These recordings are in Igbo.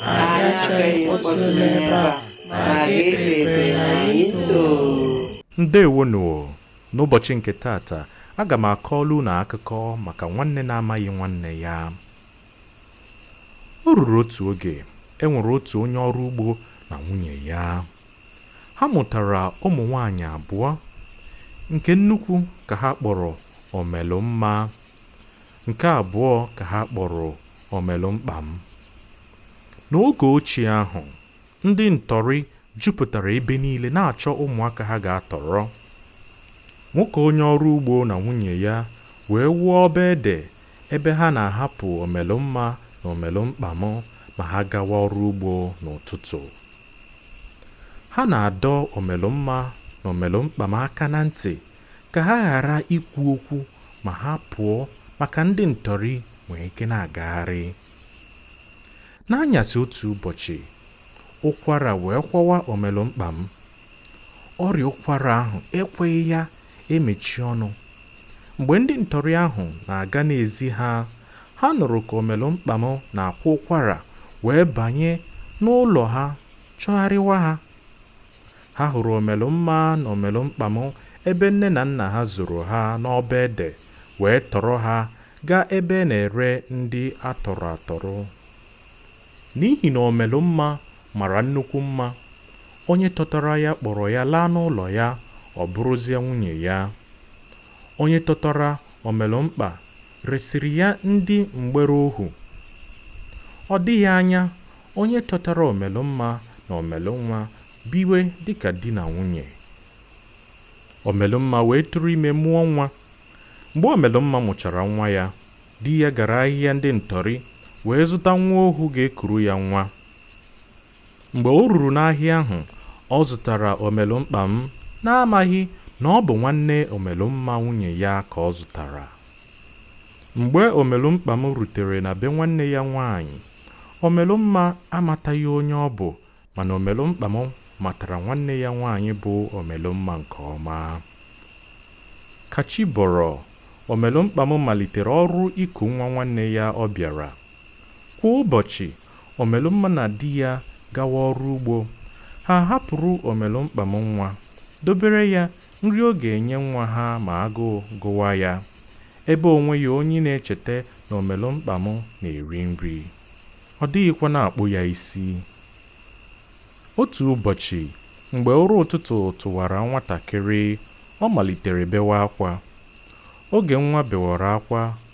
Anyị achọghị mkpọtụ n'ebe a ma ga-ekpere na anyị too. ndewonu o. n'ụbọchị nke taata aga m akọọla unu akụkọ maka nwanne na-amaghị nwanne ya o ruru otu oge e nwere otu onye ọrụ ugbo na nwunye ya ha mụtara ụmụ nwanyị abụọ nke nnukwu ka ha kpọrọ omelụmma Nke abụọ ka ha kpọrọ Omelụmkpam. N'oge ochie ahụ, ndị ntọrị jupụtara ebe niile na-achọ ụmụaka ha ga-atọrọ. Nwoke onye ọrụ ugbo na nwunye ya wee wuo ọba ede ebe ha na-ahapụ Omelụmma na Omelụmkpam ma ha gawa ọrụ ugbo n'ụtụtụ. Ha na-adọ Omelụmma na Omelụmkpam aka na ntị ka ha ghara ikwu okwu ma ha pụọ maka ndị ntọrị nwee ike na-agagharị n'anyasị otu ụbọchị ụkwara wee kwawa omelụmkpam ọrịa ụkwara ahụ ekweghị ya emechi ọnụ mgbe ndị ntọrị ahụ na-aga n'ezi ha ha nụrụ ka omelụmkpam na-akwa ụkwara wee banye n'ụlọ ha chọgharịwa ha ha hụrụ omelụmma na omelụmkpam ebe nne na nna ha zoro ha n'ọba ede wee tọrọ ha gaa ebe na-ere ndị a tọrọ atọrọ n'ihi na omelụmma mara nnukwu mma onye tọtara ya kpọrọ ya laa n'ụlọ ya ọ bụrụzie nwunye ya onye tọtara omelụmkpa resịrị ya ndị mgbere ohu ọ dịghị anya onye chọtara omelụmma na omelụnwa biwe dịka di na nwunye omelụmma wee tụrụ ime mụọ nwa mgbe omelụmma mụchara nwa ya di ya gara ahịa ndị ntọrị wee zụta nwa ohu ga-ekuru ya nwa mgbe o ruru n'ahịa ahụ ọ zụtara omelụmkpam n'amaghị na ọ bụ nwanne omelụmma nwunye ya ka ọ zụtara mgbe omelụmkpam rutere na be nwanne ya nwaanyị omelụmma amataghị onye ọ bụ mana omelụmkpam matara nwanne ya nwaanyị bụ omelụmma nke ọma ka chi bọrọ omelụmkpam malitere ọrụ iku nwa nwanne ya ọ bịara kwa ụbọchị Omelụmma na di ya gawa ọrụ ugbo. Ha hapụrụ Omelụmkpam nwa, dobere ya nri ọ ga-enye nwa ha ma agụụ gụwa ya, ebe o nweghị onye na-echeta na Omelụmkpam na-eri nri. Ọ dịghịkwa na-akpụ ya isi. Otu ụbọchị, mgbe ụra ụtụtụ tụwara nwatakịrị, ọ malitere bewa akwa. Oge nwa bewara akwa,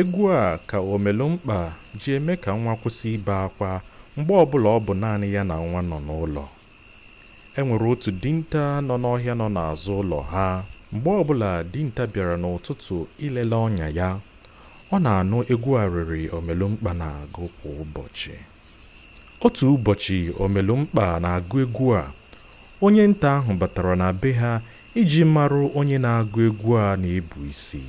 egwu a ka omelumkpa ji eme ka nwa kwụsị ibe akwa mgbe ọbụla ọ bụ naanị ya na nwa nọ n'ụlọ e nwere otu dinta nọ n'ọhịa nọ n'azụ ụlọ ha mgbe ọbụla dinta bịara n'ụtụtụ ilele ọnya ya ọ na-anụ egwu arịrị omelumkpa na-agụ kwa ụbọchị otu ụbọchị omelumkpa na-agụ egwu a onye nta ahụ batara na be ha iji marụ onye na-agụ egwu a na-ebu isi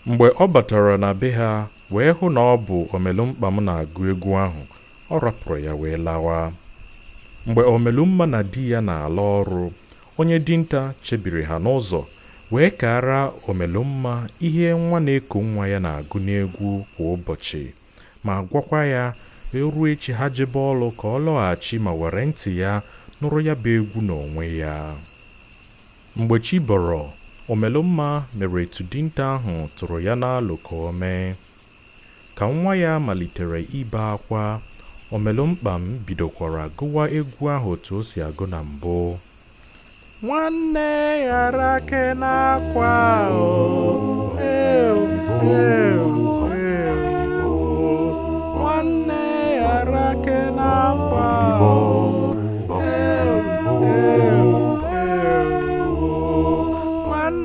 mgbe ọ batara na be ha wee hụ na ọ bụ omelumkpam na-agụ egwu ahụ ọ rapụrụ ya wee lawa mgbe omelumma na di ya na-ala ọrụ onye dinta chebiri ha n'ụzọ wee kaara omelumma ihe nwa na-eku nwa ya na-agụ n'egwu kwa ụbọchị ma gwakwa ya e ruo echi ha jebe ọlụ ka ọ lọghachi ma were ntị ya nụrụ ya bụ egwu n'onwe ya mgbe chi bọrọ omelumma mere etu dinta ahụ tụrụ ya n'alụ ka o mee Ka nwa ya malitere ibe akwa, Omelụmkpam bidokwara gụwa egwu ahụ otu o si agụ na mbụ. Nwanne ghara ake n'akwa o, ew, ew, ew, o. Nwanne ghara ake n'akwa o, ew, ew, ew, o. Nwanne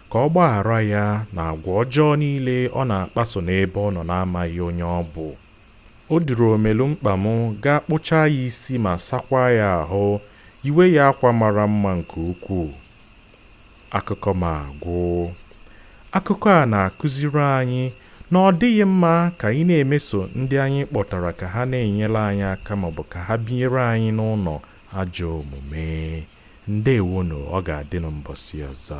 ka ọ gbaghara ya n'agwa ọjọọ niile ọ na-akpaso n'ebe ọ nọ na-amaghị onye ọ bụ o duru omelumkpam gaa kpụchaa ya isi ma sakwaa ya ahụ yiwe ya akwa mara mma nke ukwuu akụkọ m agwụ akụkọ a na-akụziri anyị na ọ dịghị mma ka anyị na-emeso ndị anyị kpọtara ka ha na-enyere anyị aka maọbụ ka ha binyere anyị n'ụlọ ajọ omume ndewonụ ọ ga-adịnụ mbọsị ọzọ